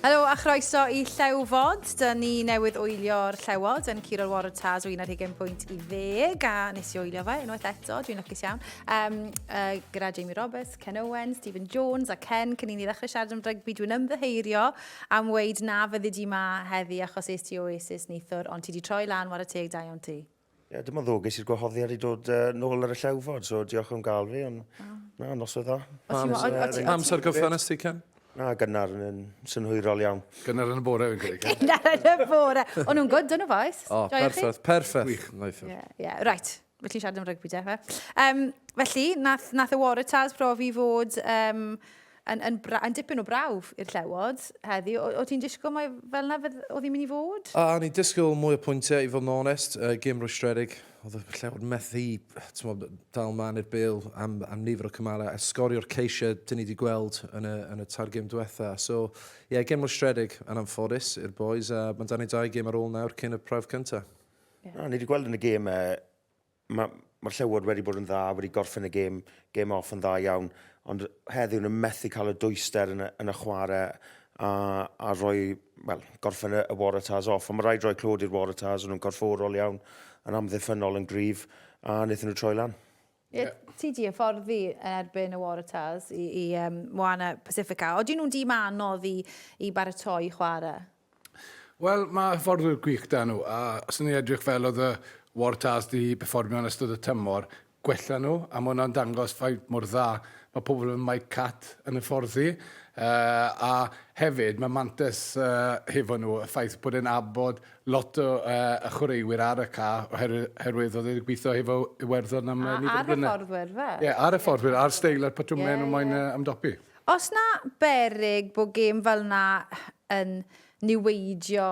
Helo a chroeso i Llew Fod. Dyna ni newydd oelio'r llewod yn Cyrol Warren Taz o 11 pwynt i ddeg a nes i oelio fe unwaith eto, dwi'n lwcus iawn. Um, uh, gyda Jamie Roberts, Ken Owen, Stephen Jones a Ken, cyn i ni ddechrau siarad am rygbi, dwi'n ymddyheirio am weid na fyddi di ma heddi achos eist i Oasis neithwr, ond ti di troi lan war y teg da iawn ti. Ie, yeah, dim ond ddwg, es i'r gwahoddiad i dod uh, nôl ar y llewfod, so diolch am gael fi, ond oh. na, nos oedd dda. Amser gyffan nes ti, Ken? Na, gynnar yn synhwyrol iawn. Gynnar yn y bore fi'n credu. Gynnar yn y bore. O'n nhw'n gwyd yn y faes. O, perffaith, perffaith. Gwych. Ie, ie, reit. Felly siarad am rygbi, de. Um, felly, nath, nath y Warriors profi fod um, yn, yn, bra, yn dipyn o brawf i'r llewod heddi. O, o ti'n disgwyl mae fel yna oedd hi'n mynd i fod? A, ni disgwyl mwy o pwyntiau i fod yn onest, uh, gym rwystredig. Oedd y llewod methu tmod, dal man i'r bil am, am nifer o cymalau a sgorio'r ceisiau dyn ni wedi gweld yn y, yn y tair gym diwetha. So, ie, yeah, gym rwystredig yn anffodus i'r boys a mae'n dan i dau gym ar ôl nawr cyn y prawf cyntaf. Yeah. Na, ni wedi gweld yn y gym uh, Mae, mae'r Llewod wedi bod yn dda, wedi gorffen y gêm, gêm off yn dda iawn, ond heddiw nhw'n methu cael y dwyster yn y, yn y chwarae a, a rhoi, wel, gorffen y, y Waratahs off. Ond mae rhaid rhoi clod i'r Waratahs, o'n nhw'n corfforol iawn, yn amddiffynol yn gryf, a wnaethon nhw troi lan. Ie, yeah. ti di hyfforddi yn erbyn y Waratahs i, i um, Moana Pacifica. Oedden nhw'n dîm anodd i, i baratoi chwarae? Wel, mae hyfforddwyr gwych 'da nhw, a os o'n i'n edrych fel oedd y Waratahs 'di perfformio yn ystod y tymor, gwella nhw, a mae hwnna'n dangos faint mor dda mae pobl fel Mike Catt yn hyfforddi. Uh, a hefyd, mae Mantes uh, hefo nhw, y ffaith bod e'n abod lot o uh, y chwaraewyr ar y ca, oherwydd oedd e'n gweithio hefo Iwerddon am uh, nifer o blynedd. Ar hyfforddwyr, fe? Ie, yeah, ar hyfforddwyr, ar steil a'r patrwmau yeah, nhw moyn yeah. ymdopi. Os na berig bod gêm fel 'na yn niweidio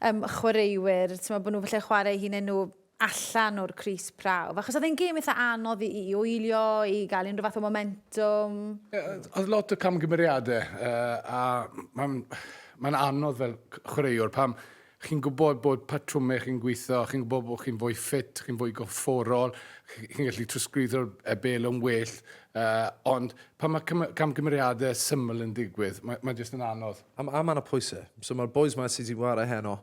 yym chwaraewyr, t'mod bod nhw falle'n chwarae eu hunain nhw allan o'r crys prawf. Achos oedd e'n gêm eitha anodd i i wylio, i gael unrhyw fath o momentum. Ie, oedd lot o camgymeriadau yy a mae'n mae'n anodd fel chwaraewr pam Chi'n gwybod bod patrwmau chi'n gweithio, chi'n gwybod bod chi'n fwy ffit, chi'n fwy gorfforol, chi'n gallu trosglwyddo'r e, bel yn well, uh, ond pan mae cym camgymeriadau syml yn digwydd, mae, mae jyst yn anodd. A, a mae yna pwysau. So mae'r boys mae sydd wedi gwario heno,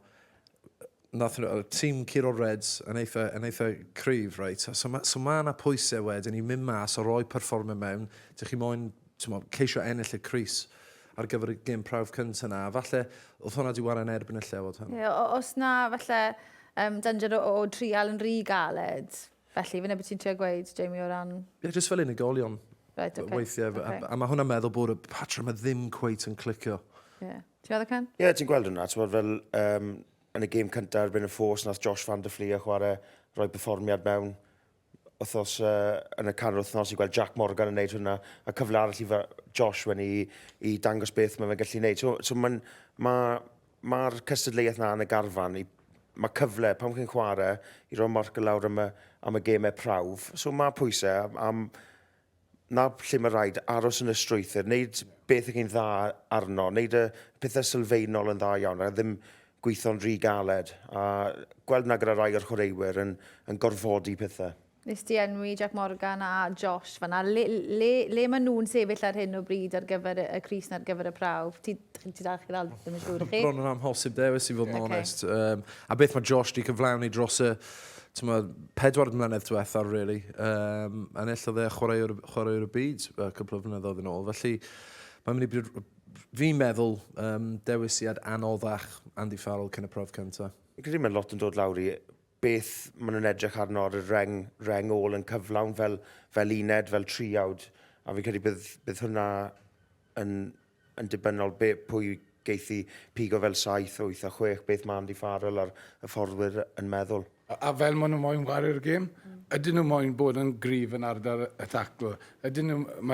nath nhw, tîm curo Reds yn eitha, yn eitha cryf, right? So mae so ma yna pwysau wedyn i mynd mas o roi perfformio mewn, dych chi moyn, ti'n mo, ceisio ennill y Cris. ar gyfer y gêm prawf cynta 'na, a falle o'dd hwnna 'di ware yn erbyn y Llewod heno. Ie, o- os 'na falle yym danger o o trial yn rhy galed, felly, f'yna be' ti'n trio gweud, Jamie, o ran... Ie, jyst fel unigolion. Reit, ocê. Weithie, f- a- a ma' hwnna'n meddwl bod y patrwm 'ma ddim cweit yn clicio. Ie. Ti'n meddwl, Ken? Ie, ti'n gweld hwnna, t'mod fel um, yn y gêm cynta erbyn y Force, nath Josh van der Fleer chware, roi perfformiad mewn, wythnos uh, yn y canol wythnos i gweld Jack Morgan yn gwneud hwnna, a cyfle arall i Josh wen i, i dangos beth mae fe'n gallu gwneud. So, so mae'r ma, ma, cystadleuaeth na yn y garfan, i, mae cyfle, pam chi'n chwarae, i roi marc y lawr am y, am y gemau prawf. So mae pwysau, am, 'na lle mae rhaid, aros yn y strwythur, wneud beth ych chi'n dda arno, wneud y pethau sylfaenol yn dda iawn, a ddim gweithio'n rhy galed, a gweld na gyda rai o'r chwaraewyr yn, yn gorfodi pethau. Nes ti enwi Jac Morgan a Josh fanna. Le, le, le maen nhw'n sefyll ar hyn o bryd ar gyfer y, y Cris ar gyfer y prawf? Ti, ti dal chi'n ddal, ddim yn siŵr chi? Bron yn amhosib dewis i fod yn okay. onest. Um, a beth mae Josh wedi cyflawni dros y tmod, pedwar mlynedd diwetha, really. Um, enillodd e chwaraewr, chwaraewr y byd a cwpl o flynyddoedd yn ôl. Felly, mae'n mynd i bryd... Fi'n meddwl um, dewisiad anoddach Andy Farrell cyn y prof cyntaf. Fi'n credu mae lot yn dod lawr i beth maen nhw'n edrych arno ar y reng, reng ôl yn cyflawn fel, fel uned, fel triawd. A fi'n credu bydd, bydd hwnna yn yn dibynnol be, pwy geith i pigo fel saith, wyth a chwech, beth mae Andy Farrell a'r hyfforddwyr yn meddwl. A, a fel maen nhw moyn chwarae'r gêm, ydyn nhw moyn bod yn gryf yn ardal y tacl, ydyn nhw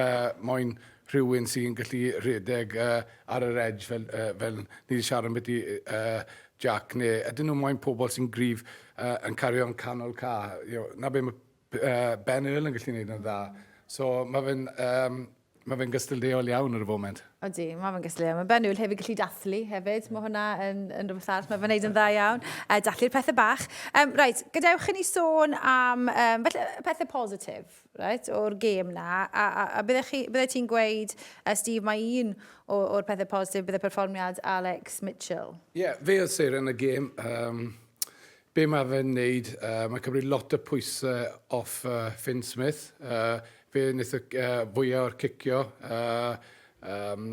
moyn rhywun sy'n gallu rhedeg uh, ar yr edge fel, uh, fel ni wedi siarad am beth i uh, Jack, neu ydyn nhw moyn pobl sy'n gryf uh, yn cario'n canol ca. You know, na be mae Yy Ben Earl yn gallu neud yn dda. So ma' fe'n yym ma' fe'n gystadleuol iawn ar y foment. Odi, ma' fe'n gystadleuol. Ma' Ben Earl hefyd gallu dathlu hefyd. Ma' hwnna yn yn rwbeth arall ma' fe'n neud yn dda iawn. Yy dathlu'r pethe bach. Yym reit, gadewch i ni sôn am yym falle y pethe positif, reit, o'r gêm 'na. A a a bydde chi bydde ti'n gweud yy Steve mai un o o'r pethe positif bydde perfformiad Alex Mitchell? Ie, fe o'dd seren y gêm. Yym Be mae fe'n wneud? Yy mae'n cymryd lot o pwyse off yy Finn Smith. Yy fe wnaeth y c- yy fwya o'r cicio. Yy yym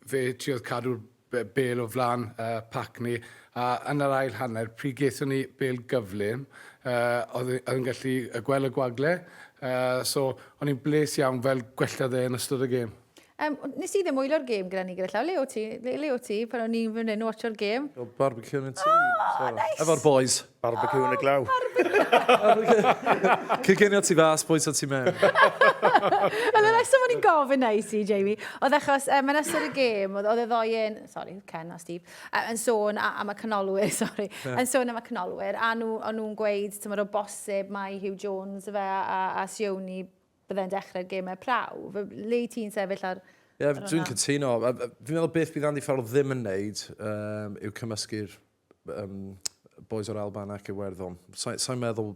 fe triodd cadw'r be- bêl o flan yy pac ni a yn yr ail hanner pryd gaethon ni bêl gyflym yy oedd e oedd e'n gallu yy gweld y gwagle yy so o'n i'n bles iawn fel gwellodd e yn ystod y gêm. Um, nes i ddim wylio'r gêm gyda ni gyda llaw. Le o ti? Le, le o ti? Pan o'n i'n fynd yn watcho'r gêm. O, barbecue yn y tŷ. Oh, nice. Efo'r boys. Barbecue yn y glaw. Cygenio ti fas, boys o ti mewn. Ond y reswm o'n i'n gofyn na i si, Jamie, oedd achos um, yn ystod y gêm, oedd y ddoen, sorry, Ken a Steve, uh, yn sôn am y canolwyr, sorry, yeah. yn sôn am y canolwyr, a nhw'n nhw gweud, ti'n o bosib, mae Hugh Jones fe a, a Sioni Byddai'n dechrau'r gemau prawf. F- Le i ti'n sefyll ar... Ie, yeah, dwi'n cytuno. A- a- Fi'n meddwl beth bydd Andy Farrell ddim yn neud um, yw cymysgu'r um, boys o'r Alban ac Iwerddon. Sa'n sa meddwl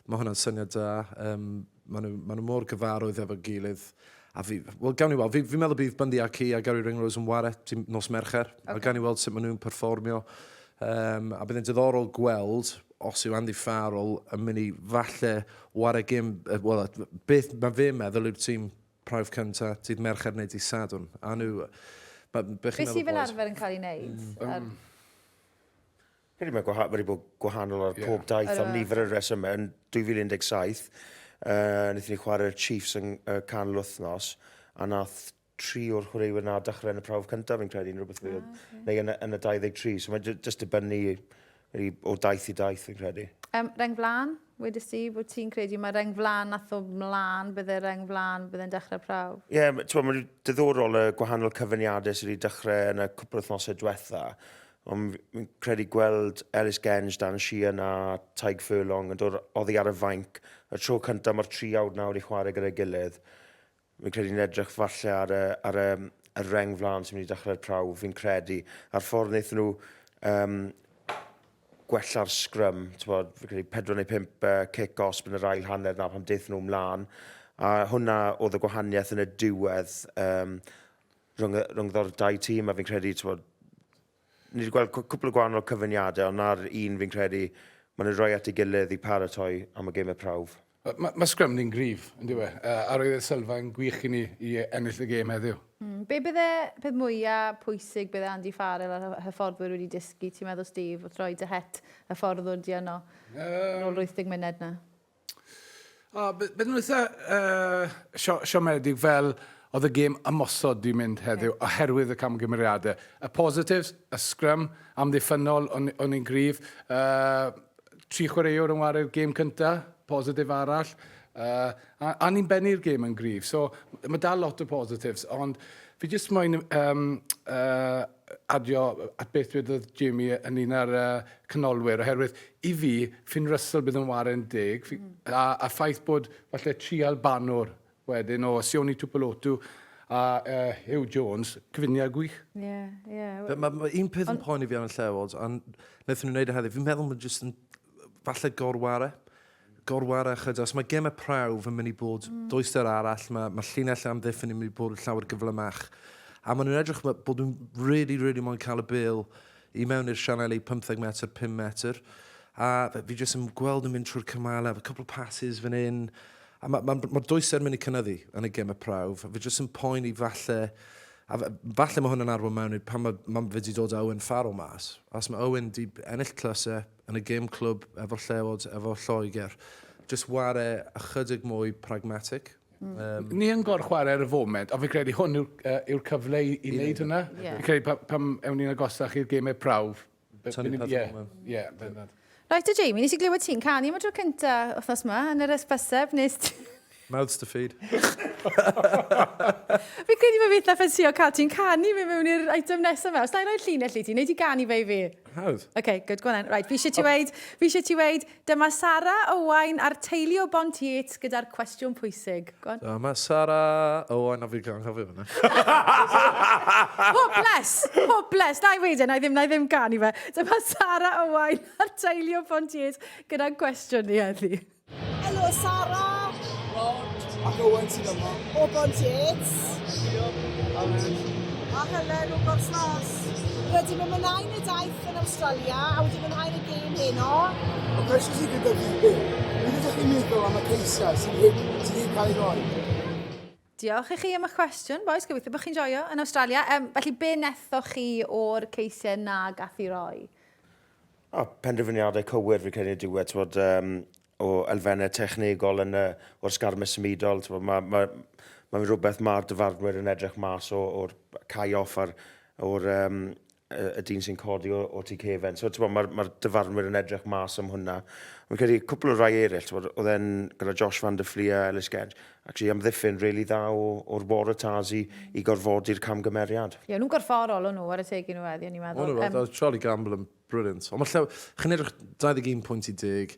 mae hwnna'n syniad da. Um, maen, nhw, maen nhw mor gyfarwydd efo'r gilydd. A fi, wel, gawn ni weld. Fi'n fi meddwl bydd Bundy Aki a Gary Ringrose yn ware nos Mercher. Okay. A gawn ni weld sut maen nhw'n perfformio. Um, a bydd yn diddorol gweld os yw Andy Farrell yn mynd i falle ware gym, wel, beth mae fe meddwl yw'r tîm prawf cynta, dydd Mercher neu dydd Sadwn. A nhw, Be sydd fel arfer yn cael ei wneud? Um, Hyd mae gwahanol, wedi bod gwahanol ar pob daith am nifer y resymau. Yn 2017, uh, wnaethon ni chwarae'r Chiefs yn uh, canol wythnos, a nath tri o'r chwaraewyr na dechrau yn y prawf cyntaf, fi'n credu, yn rhywbeth fel, oh, okay. neu yn, yn y 23. So mae'n just dibynnu really, o daith i daith, fi'n credu. Um, reng flan, wedi si, bod ti'n credu, mae reng flan nath o mlaen, bydde reng flan, bydde'n dechrau prawf. Ie, yeah, mae'n diddorol y gwahanol cyfyniadau sydd wedi dechrau yn y cwpl wythnosau diwetha. Ond fi'n credu gweld Ellis Genge, Dan Sheehan a Taig Furlong yn dod oddi ar y fainc. Y tro cyntaf mae'r tri awd nawr i chwarae gyda'i gilydd Fi'n credu ni'n edrych falle ar y, ar y, y reng flan sy'n mynd i dechrau'r prawf, fi'n credu, a'r ffordd wnaethon nhw um, gwella'r sgrym, bod, fi'n credu 4 neu 5 uh, cic os yn yr ail hanner na pan deth nhw mlaen. A hwnna oedd y gwahaniaeth yn y diwedd um, rhwng, rhwng ddo'r dau tîm, a fi'n credu, bod, ni wedi gweld cwpl o gwahanol cyfyniadau, ond na'r un fi'n credu, maen nhw'n rhoi at ei gilydd i paratoi am y gêm y prawf. Mae ma sgrym ni'n gryf, yn diwe, uh, a roedd y sylfa yn gwych i ni i ennill y gêm heddiw. Mm, be bydde peth mwyaf pwysig bydde Andy Farrell a'r hyfforddwyr wedi dysgu, ti'n meddwl, Steve, wrth roi dy het hyfforddwr di yno, um, ôl 80 myned na? O, bydd nhw'n eitha uh, sio, siomedig fel oedd y gêm ymosod di mynd heddiw okay. oherwydd y camgymeriadau. Y positives, y sgrym, amddiffynol o'n, o'n i'n gryf. Uh, Tri chwaraewr yn ware'r gêm cynta, positif arall. Uh, a, a ni'n bennu'r gêm yn gryf. So, mae dal lot o positives, ond fi jyst moyn um, uh, adio at beth dwedodd Jamie yn un ar uh, canolwyr, oherwydd i fi, Finn Russell bydd yn ware'n deg, fi, mm. a, a ffaith bod falle tri albanwr Wedyn o Sione Tupulotu a yy Huw Jones, cyfuniad gwych. Ie, ie. Be- ma' ma' un peth yn poeni fi am y Llew Awards a n- naethon nw neud e heddi fi'n meddwl ma' jyst yn falle gorware. Gorware ychydig os ma' geme prawf yn myn' i bod dwyster arall ma' ma' llinell lle amddiffyn yn myn' i bod llawer gyflymach. A ma' nw'n edrych ma' bod nw'n rili rili moyn ca'l y bêl i mewn i'r sianeli pymtheg metr pum metr a fe- fi jyst yn gweld nw'n mynd trwy'r cymale efo cwpwl o passes fan 'yn A mae ma, ma dwysau'n mynd i cynnyddu yn y gemau prawf. Fe jyst yn poeni falle, a falle mae hwn yn arwain mewn i'r pan mae, ma fe wedi dod Owen Farrell mas. Os mae Owen wedi ennill clysau yn y gem clwb efo llewod, efo Lloegr, jyst ware ychydig mwy pragmatic. Mm. Um, Ni yn gor chwarae ar y foment, a fi credu hwn yw'r uh, yw cyfle i, i wneud hynna. Yeah. Fi credu pam, pam ewn ni'n agosach i'r gemau prawf, Tony Padrona. Ie, yeah, bendant. Rhaid o Jamie, nes i glywed ti'n canu am y tro cynta wythnos yma, yn yr esbyseb, nes ti... Mouths to feed. Fi credu bod fi eitha ffensio cael ti'n canu fe mewn i'r item nesaf fe. Os da i roi'r llinell i ti, neu ti ganu fe i fi? Hawdd. OK, good, go on then. Right, fi eisiau ti weid, fi eisiau ti weid, Dyma Sara, Owain a'r teulu o Bont Yates gyda'r cwestiwn pwysig. Go on. Dyma Sara, Owain a fi gan anghofio fyna. Hopeless! Hopeless! Na i wedi, e, na i ddim, na i ddim gan i fe. Dyma Sara, Owain a'r teulu o Bont Yates gyda'n cwestiwn ni heddi. Helo Sara! Rod ac Owain sydd yma. O Bont Yates. Diolch. A Helen o Gorslas. Rydym yn mynau yn y daith Yn Awstralia a wedi mwynhau yn y gêm heno? Y cwestiwn sydd gyda fi yw, beth ydych chi'n meddwl am y ceisiau sydd wedi cael ei roi? Diolch i chi am eich cwestiwn, boes, gobeithio bod chi'n joio yn Awstralia. Um, felly, be nethoch chi o'r ceisiau na gath i roi? O, penderfyniadau cywir fi credu ydyw e, tywod, um, o elfennau technegol yn y, o'r sgarmau symudol, tywod, mae, mae, mae'n rhywbeth mae'r dyfarnwyr yn edrych mas o'r cae off a'r, o'r um, y dyn sy'n codi o, o tu cefen. So, ti'n bod, mae'r ma dyfarnwyr yn edrych mas am hwnna. Mae'n credu cwpl o rai eraill, ti'n bod, oedd e'n gyda Josh van der Flia, Ellis Genge, actually amddiffyn rili really dda o, o'r bore tas i, i gorfodi'r camgymeriad. Ie, nhw'n gorfforol o'n nhw ar y teg i nhw eddi, o'n i'n meddwl. O'n nhw, um, Charlie Gamble yn brilliant. Ond mae lle, chi'n edrych 21 pwynt i deg,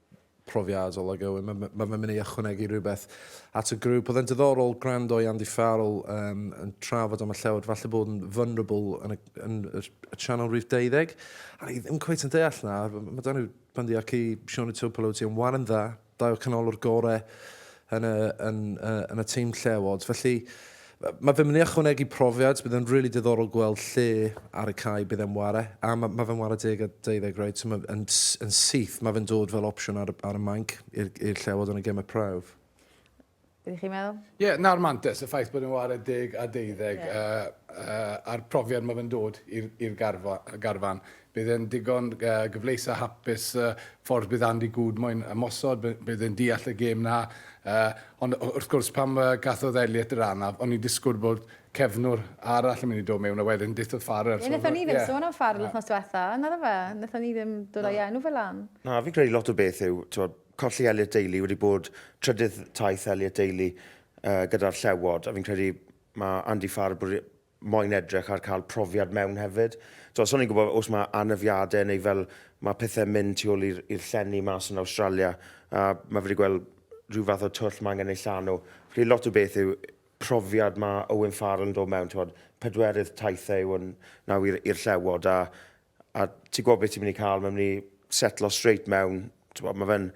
profiadol ag Owen. Mae ma fe'n mynd i ychwanegu rhywbeth at y grŵp. Oedd e'n diddorol gwrando i Andy Farrell um, yn trafod am y llewod, falle bod yn vulnerable yn y, yn y, y channel rhif 12. A ni ddim cweith yn deall na. Mae dan nhw bandiau ci Sean y Tupelo ti yn waran dda, dau o canolwr gorau yn y, yn, yn y team llewod. Felly, mae fe'n mynd i ychwanegu profiad, bydd yn rili really diddorol gweld lle ar y cae bydd e'n ware, a mae, mae fe'n ware deg a deuddeg, right? So mae, yn, yn syth, mae fe'n dod fel opsiwn ar, ar y manc i'r llewod yn y gemau prawf. Bydd chi'n meddwl? Ie, yeah, na'r mantis, y ffaith bod yn ware deg a deuddeg, yeah. uh, uh, a'r profiad mae fe'n dod i'r garfan. Bydd e'n ddigon gyfleus a hapus ffordd bydd Andy Goode moyn ymosod, bydd e'n deall y gêm 'na. Ond wrth gwrs, pan gathodd Elliot yr anaf, o'n i'n disgwyl bod cefnwr arall yn mynd i dod mewn a wedyn dithodd Farrell. Ie, wnaethon ni ddim sôn am Farrell wythnos diwetha', naddo fe? Wnaethon ni ddim dod â'i enw fe lan. Na, fi'n credu lot o beth yw, t'mod, colli Elliot Daly wedi bod trydydd taith Elliot Daly gyda'r Llewod, a fi'n credu ma' Andy Farrell moyn edrych ar cael profiad mewn hefyd. Tibod, so ni'n gwybod os mae anafiadau neu fel mae pethau'n mynd tu ôl i'r llenni mas yn Awstralia, a mae wedi gweld rhyw fath o twll mae angen ei llanw. Felly lot o beth yw profiad mae Owen Farrell yn dod mewn, tibod, pedwerydd taithau yw hwn nawr i'r llewod, a A ti'n gwybod beth ti'n mynd i cael, mae'n mynd i setlo straight mewn. Bod, mae fe'n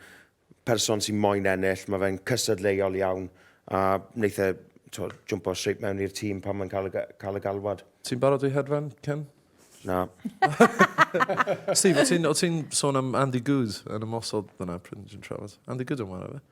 person sy'n moyn ennill, mae fe'n cysadleuol iawn, a wneud e jwmpo straight mewn i'r tîm pan mae'n cael, cael y galwad. Ti'n barod i hedfan, Ken? Na. Steve, o ti'n ti sôn am Andy Good yn y mosod fyna, pryd ti'n trafod? Andy Good yn wara fe?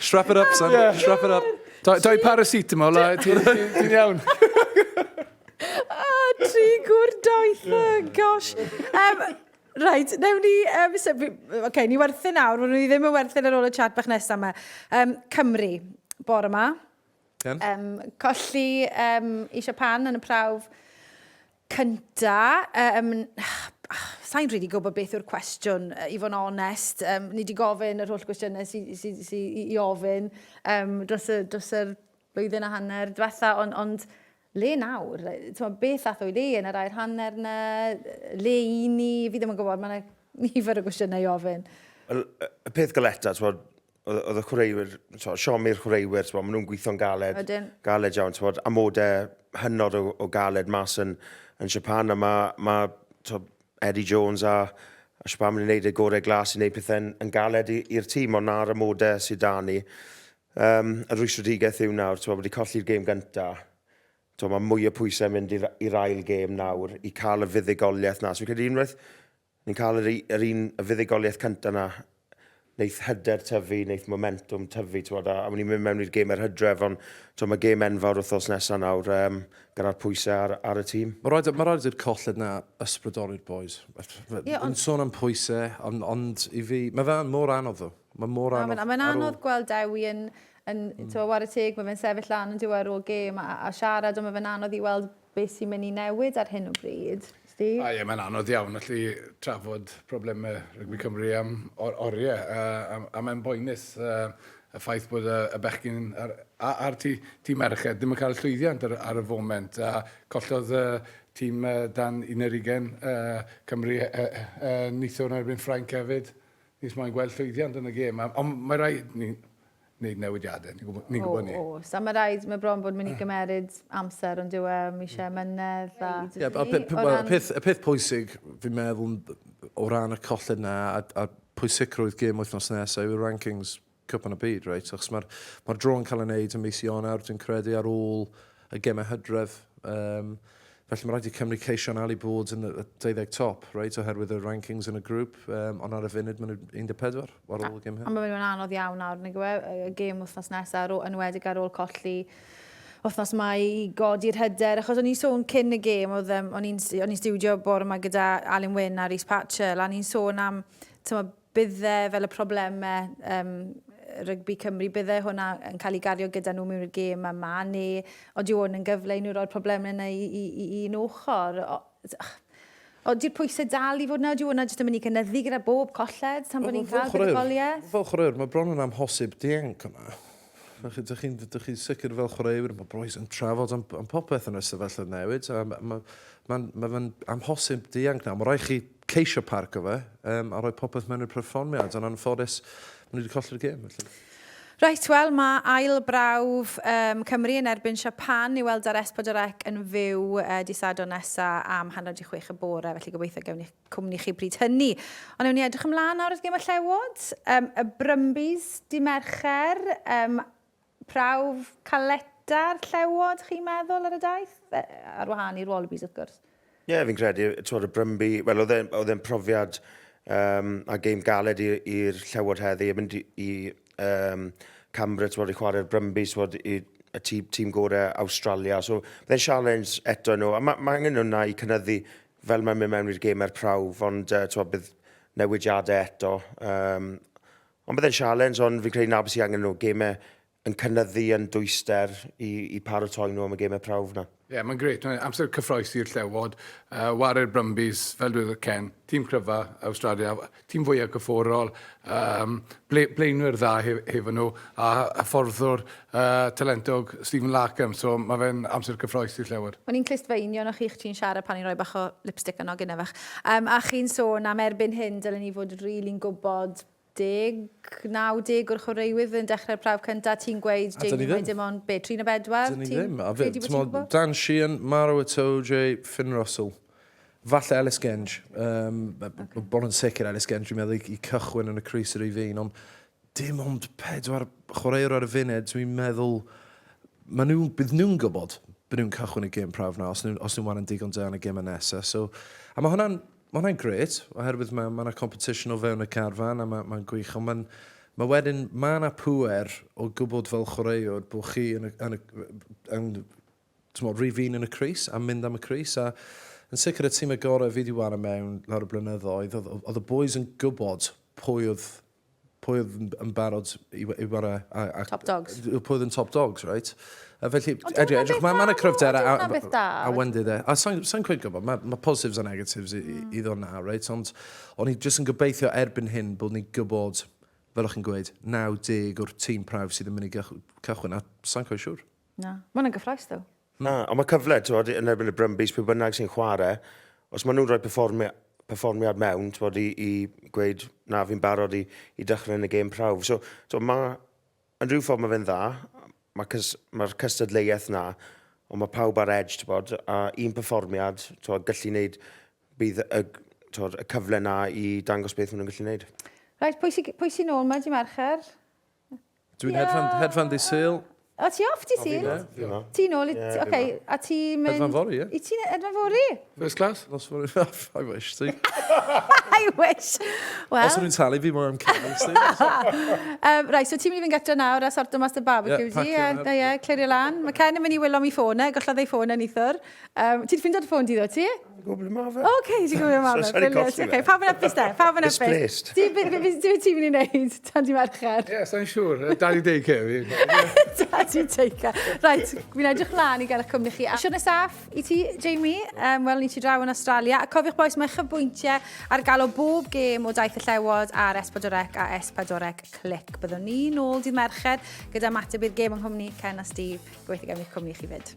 Strap it up, son. Yeah. Strap it up. Doi, doi paracetamol, a ti'n iawn. Ah, tri gwr doeth, oh gosh. Um, Right, newn ni... Um, so, okay, ni werthu nawr, ni ddim yn werthu ar ôl y chat bach nesaf yma. Um, Cymru, bore yma. Um, colli um, i Siapan yn y prawf cynta. Yym, sa i'n rili gwybod beth yw'r cwestiwn, i fod yn onest. Yym, ni wedi gofyn yr holl gwestiynau sy, sy, sy i, i ofyn um, dros, y, dros yr blwyddyn a hanner diwetha, ond, ond le nawr? Tewa, beth ath o'i le yn yr air hanner yna? Le i ni? Fi ddim yn gwybod, mae yna nifer o gwestiynau i ofyn. Y peth galeta, tewa, oedd y chwaraewyr, so, siomi'r chwaraewyr, so, maen nhw'n gweithio'n galed, Ydyn. galed iawn, so, amodau hynod o, o galed mas yn, yn Japan, a mae, ma, so, Eddie Jones a, a Siobhan yn gwneud y gorau glas i wneud pethau'n yn galed i'r tîm, ond na'r amodau sydd da ni. Um, a Rhys Rodriguez yw nawr, so, wedi colli'r gêm gyntaf, so, mae mwy o pwysau mynd i'r ail gêm nawr i cael y fuddugoliaeth na. So, fi'n credu unwaith Ni'n cael yr, yr un y fuddugoliaeth cyntaf na, wneith hyder tyfu, wneith momentum tyfu, ti'n a, a ni'n mynd mewn i'r gêm er hydref, ond ti'n mae gêm enfawr wrthos nesaf nawr, um, gyda'r pwysau ar, ar y tîm. Mae rhaid, mae rhaid i'r colled na ysbrydoli'r boys. Yeah, on... sôn am pwysau, ond, ond i fi, mae fe mor anodd ddo. Mae mor anodd. Mae'n ma anodd ôl... gweld Dewi yn, yn mm. tywa, war y teg, mae fe'n sefyll lan yn diwa ar ôl gêm a, a siarad, ond mae fe'n anodd i weld Be sy'n mynd i newid ar hyn o bryd, Steve? O ie, mae'n anodd iawn allu trafod problemau rygbi Cymru am oriau, a, a, a mae'n boenus uh, y ffaith bod y, y bechgyn a'r, a'r tî, tîm merched ddim yn cael llwyddiant ar, ar y foment, a collodd y uh, tîm uh, dan 11 uh, Cymru uh, uh, uh, nithwr yn erbyn Ffrainc hefyd. Nis moyn gweld llwyddiant yn y gêm, ond mae rhaid ni wneud newidiadau, ni'n gwybod, ni'n gwybod 'ny. O, oes, a ma' raid, ma' bron bod yn mynd i gymeryd amser, ond dyw e ddim eisiau mynedd a... Ie, a pe- pe- wel, y peth, y peth pwysig, fi'n meddwl, o ran y colled 'na, a, a pwysicrwydd gêm wythnos nesa, yw'r rankings Cwpan y Byd, reit, achos ma'r, ma'r draw yn cael ei wneud ym mis Ionawr, dwi'n credu, ar ôl y gemau hydref. Um, felly mae rhaid i Cymru ceisio yn ali bod yn y 20 top, right, oherwydd y rankings yn y grŵp, um, ond ar y funud maen nhw 14 ar ôl y gem hyn. A mae nhw'n anodd iawn nawr, nag yw e, y gem wythnos nesaf, yn wedig ar ôl colli wythnos mae i godi'r hyder, achos o'n i'n sôn cyn y gêm, oedd um, o'n i'n studio bore yma gyda Alun Wyn a Rhys Patchell, a ni'n sôn am tyma, bydde, fel y problemau um, rygbi Cymru, bydde hwnna yn cael ei gario gyda nhw mewn i'r gêm yma, neu ond yw hwn yn gyfle i nhw roi'r problemau yna i, i, i, i un ochr? O, o, di'r pwysau dal i fod yna, yw hwnna jyst yn mynd i gynyddu gyda bob colled tan bod ni'n cael buddugoliaeth? Fel chwaraewr, mae bron yn amhosib dienc yna. Ydych chi'n chi sicr fel chwaraewr, mae Broes yn trafod am, am popeth yn y sefyllfa newid. Mae'n ma, ma, ma, ma amhosib dianc na. Mae rhaid chi ceisio parcio fe um, a rhoi popeth mewn i'r perfformiad, ond anffodus, maen nhw wedi colli'r gêm, felly. Reit, wel, mae ail brawf um, Cymru yn erbyn Siapan i weld ar Espodorec yn fyw uh, di Sadwrn nesa am hanner di chwech y bore, felly gobeithio gewn ni cwmni chi bryd hynny. Ond ewn ni edrych ymlaen nawr wrth gym y llewod, um, y Brumbies di Mercher, um, Prawf caleta'r llewod chi'n meddwl ar y daith? Ar wahân i'r wallabies wrth gwrs. Ie yeah, fi'n credu, twod y Brumby, wel oedd e'n oedd e'n profiad um, a game galed i'r llewod heddi, yn mynd i um, Cambra, twod i chwarae'r Brumby, twod i y tîm, tîm gorau Australia, so byddai'n challenge eto nhw, a mae ma angen hwnna i cynyddu fel mae'n mynd mewn i'r gêm er prawf, ond uh, twod bydd newidiadau eto, um, Ond bydd e'n sialens, ond fi'n credu 'na beth sydd angen nhw, gemau yn cynnyddu yn dwyster i, i paratoi nhw am y gemau prawf 'na. Ie, yeah, mae'n gret. Mae'n amser cyffroes i'r llewod. Uh, Ware'r Brumbies, fel dweud Ken, tîm cryfa Australia, tîm fwyaf cyfforol, um, ble, blaenwyr dda hef, hefo nhw, a hyfforddwr uh, talentog Stephen Larkham, so mae fe'n amser cyffroes i'r llewod. O'n i'n clust feinio na chi'ch ti'n siarad pan i'n rhoi bach o lipstick yn ogyn efach. Um, a chi'n sôn am erbyn hyn, dylen ni fod rili'n really gwybod deg, naw deg o'r chwaraewyr fydd yn dechrau'r prawf cyntaf, ti'n gweud, Jamie, mae dim ond, be, tri neu bedwar? Dyn ni ddim. A fe, timod, Dan Sheehan, Maro Itoje, Finn Russell, falle Ellis Genge. Um, okay. Bod yn sicr Ellis Genge, dwi'n meddwl, i, cychwyn yn y Cris yr Rhyf un, ond dim ond pedwar chwaraewr ar y funud, dwi'n meddwl, maen nhw, bydd nhw'n gwybod bod nhw'n cychwyn y gêm prawf na, os nhw'n nhw, nhw waran digon da yn y gêm yn nesaf. So, a mae hwnna'n Mae hwnna'n grêt, oherwydd mae yna competition o fewn y carfan a mae'n gwych, ond mae'n... Mae wedyn, mae yna pŵer o gwybod fel chwaraewr bod chi yn y... yn y... yn... timod, rhyw fin yn y crys a mynd am y crys a yn sicr y tîm y gorau fi wedi wario mewn lawr y blynyddoedd, oedd y bois yn gwybod pwy oedd pwy oedd yn barod i, i wara... A, a, top dogs. Pwy oedd yn top dogs, right? A felly, edrych, edrych, mae yna cryfder a, a, a wendy dde. A sa'n sa cweud gwybod, mae ma positives a negatives i, mm. i ddod na, right? Ond o'n i jyst yn gobeithio erbyn hyn bod ni'n gwybod, fel o'ch chi'n gweud, 90 o'r tîm prawf sydd yn mynd i cychwyn, a sa'n cweud siwr. Na. Mae'n gyffroes, ddo. Na, ond mae cyfle, tywod, yn erbyn y Brumbies, pwy bynnag sy'n chwarae, os maen nhw'n rhoi performi perfformiad mewn, tywod, i, i gweud, na, fi'n barod i, i dechrau yn y gêm prawf. So, so mae, yn rhyw ffordd mae fe'n dda, mae'r cys, mae cystadleuaeth na, ond mae pawb ar edge, tywod, a un performiad, tywod, gallu wneud, bydd y, tywod, y cyfle na i dangos beth maen nhw'n gallu wneud. Rhaid, pwy sy'n sy nôl mae di Mercher? Dwi'n yeah. hedfan, hedfan di syl. O, ti off di syl? Ti nôl i... Yeah, okay. A ti mynd... Hedfan fori, ie. I ti'n hedfan fori? First class? Nos fori. I wish, ti. I wish. Well. Os ydw'n talu fi mwy am cael, ti. um, right, so ti'n mynd i fynd gyda nawr a sorto mas dy barbecue yeah, di. Ie, yeah, yeah, clirio lan. Mae Ken yn mynd i wylo mi ffôn e, gollodd ei ffôn e nithwr. Um, ti'n ffindo'r ffôn di ddo, ti? gwybod ble mae fe. Oce, okay, ti'n gwybod ble mae fe. Sorry, colli fe. Pawb yn epus de, pawb yn epus. Displaced. Ti'n byd ti'n mynd i wneud tan di mercher? Ie, sa'n siŵr. Daddy daycare fi. Daddy daycare. Rhaid, fi'n edrych lan i gael eich cwmni chi. Siwr nesaf i ti, Jamie. Um, Wel, ni ti draw yn Australia. A cofiwch boes, mae chyfbwyntiau ar gael o bob gêm o daith y llewod ar Espadorec a Espadorec Clic. Byddwn ni nôl dydd Mercher gyda mateb i'r gêm yng nghwmni Ken a Steve. Gweithio gen i'ch cwmni chi fyd.